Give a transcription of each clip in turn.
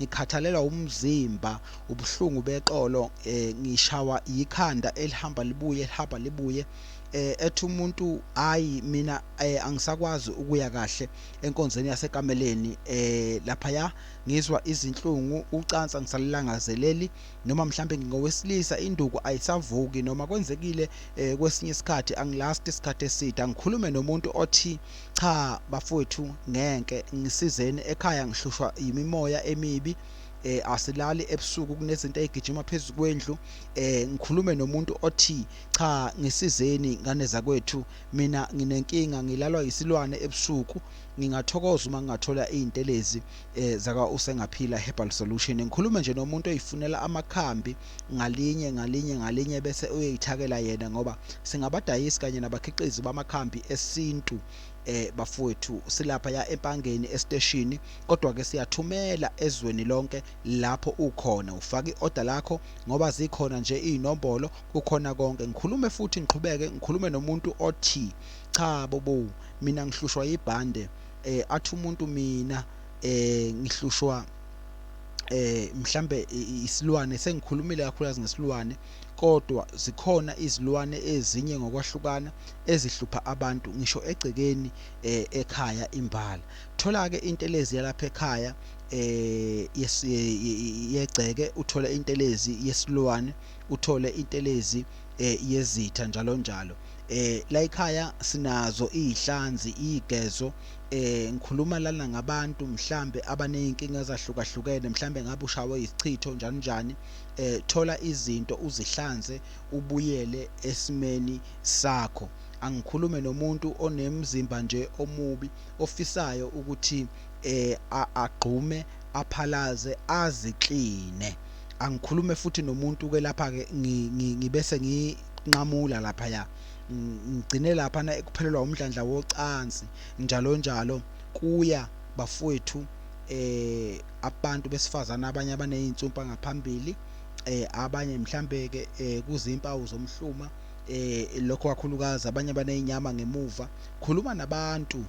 ngikhathalelwa umzimba ubuhlungu beqolo eh ngishawa yikhanda elihamba libuye lihamba libuye eh ethi umuntu hayi mina eh angisakwazi ukuya kahle enkonzweni yasekameleni eh lapha ya ngizwa izinhlungu ucansa ngisalilangazeleli noma mhlambe ngingowesilisa induku ayisavuki noma kwenzekile eh kwesinye isikhathi angilasti isikhathi eside angikhulume nomuntu othi Cha bafowethu ngenke ngisizeni ekhaya ngihlushwa yimimoya emibi eh asilali ebusuku kunezinto ezigijima phezulu kwendlu eh ngikhulume nomuntu othi cha ngisizeni ngane zakwethu mina nginenkinga ngilalwa yisilwane ebusuku ngingathokoza uma ngingathola izintelezi eh zaka usengaphila herbal solution ngikhulume nje nomuntu oyifunela amakhambi ngalinye ngalinye ngalinye bese uyoyithakela yena ngoba singabadayisi kanye nabakhiqizi bamakhambi esintu eh bafowethu silapha ya empangeni esiteshini kodwa ke siyathumela ezweni lonke lapho ukhona ufaka iorder lakho ngoba zikhona nje izinombolo kukhona konke ngikhulume futhi ngiqhubeke ngikhulume nomuntu othi cha bobo mina ngihlushwa yibhande eh athi umuntu mina eh ngihlushwa eh mhlambe isilwane sengikhulumile kakhulukazi ngesilwane kodwa zikhona izilwane ezinye ngokwahlukana ezihlupha abantu ngisho egcekeni eh, ekhaya imbala thola ke intelezi yalapha ekhaya eh yegceke uthole intelezi yesilwane uthole intelezi eh, yezitha njalo njalo eh la ekhaya sinazo izihlanzi igezo Eh ngikhuluma lana ngabantu mhlambe abanezinkinga ezahlukahlukene mhlambe ngabe ushawe isichitho njani njani eh thola izinto uzihlanze ubuyele esimeni sakho angikhulume nomuntu onemzimba nje omubi ofisayo ukuthi eh agqume aphalaze azikline angikhulume futhi nomuntu ke lapha ke ngibese nginqamula lapha ya ngigcine lapha na ekuphelelwa umdlandla wocansi njalo njalo kuya bafowethu eh abantu besifazana abanye abanezintsumpa ngaphambili eh abanye mhlambe ke eh, kuzimpawu zomhluma eh lokho kakhulukazi abanye banezinyama ngemuva khuluma nabantu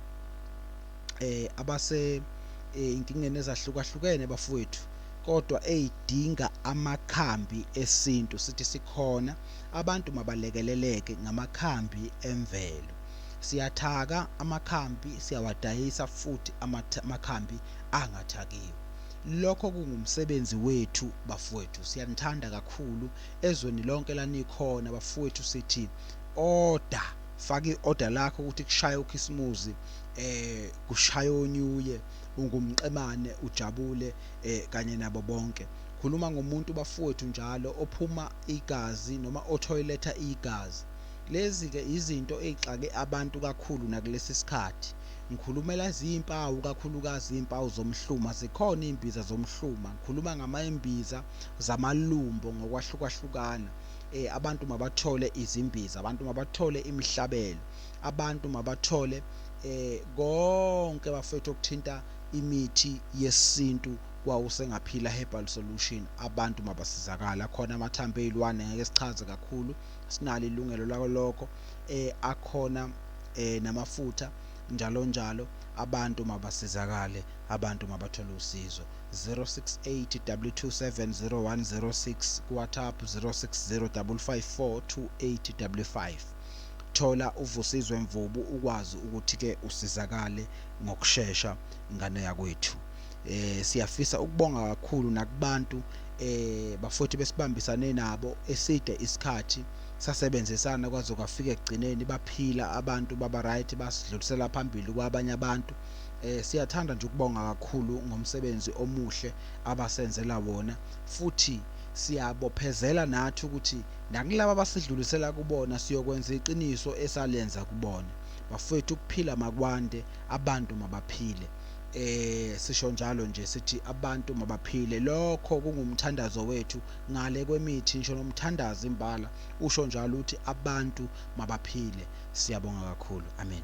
eh abase eh, inkingeni ezahlukahlukene bafowethu kodwa eyidinga amakhambi esintu sithi sikhona abantu mabalekeleleke ngamakhambi emvelo. Siyathaka amakhambi siyawadayisa futhi amakhambi angathakiwe. Lokho kungumsebenzi wethu bafowethu. Siyanithanda kakhulu ezweni lonke lanikhona bafowethu sithi order faka i-order lakho ukuthi kushaye ukhisimuzi eh kushaye onyuye ungumqemane ujabule eh kanye nabo bonke khuluma ngomuntu bafowethu njalo ophuma igazi noma othoyiletha igazi. Lezi-ke izinto ey'xake abantu kakhulu nakulesi sikhathi. Ngikhulumela ziyimpawu kakhulukazi iy'mpawu zomhluma, zikhona iy'mbiza zomhluma. Ngikhuluma ngamay'mbiza zamalumbo ngokwahlukahlukana. Eh, abantu mabathole izimbiza, abantu mabathole imihlabelo, abantu mabathole eh konke bafethu okuthinta imithi yesintu kwawusengaphila herbal solution abantu mabasizakale akhona amathambo eyilwane ngeke sichaze kakhulu sinalo ilungelo lakolokho eh akhona eh namafutha njalo njalo abantu mabasizakale abantu mabathole usizo 0682270106 kuwhatsapp 0605542855 thola uvusizwe mvubu ukwazi ukuthi-ke usizakale ngokushesha ngane yakwethu Eh siyafisa ukubonga kakhulu nakubantu eh bafothi besibambisane nabo eside isikhathi sasebenzisana kwaze kwafika ekugcineni baphila abantu baba right basidlulisela phambili kwabanye abantu eh siyathanda nje ukubonga kakhulu ngomsebenzi omuhle abasenzela wona futhi siyabophezela nathi ukuthi nakulabo abasidlulisela kubona siyokwenza iqiniso esalenza kubona bafowethu ukuphila makwande abantu mabaphile eh sisho njalo nje sithi abantu mabaphile lokho kungumthandazo wethu ngale kwemithi ngisho nomthandazi imbala usho njalo uthi abantu mabaphile siyabonga kakhulu amen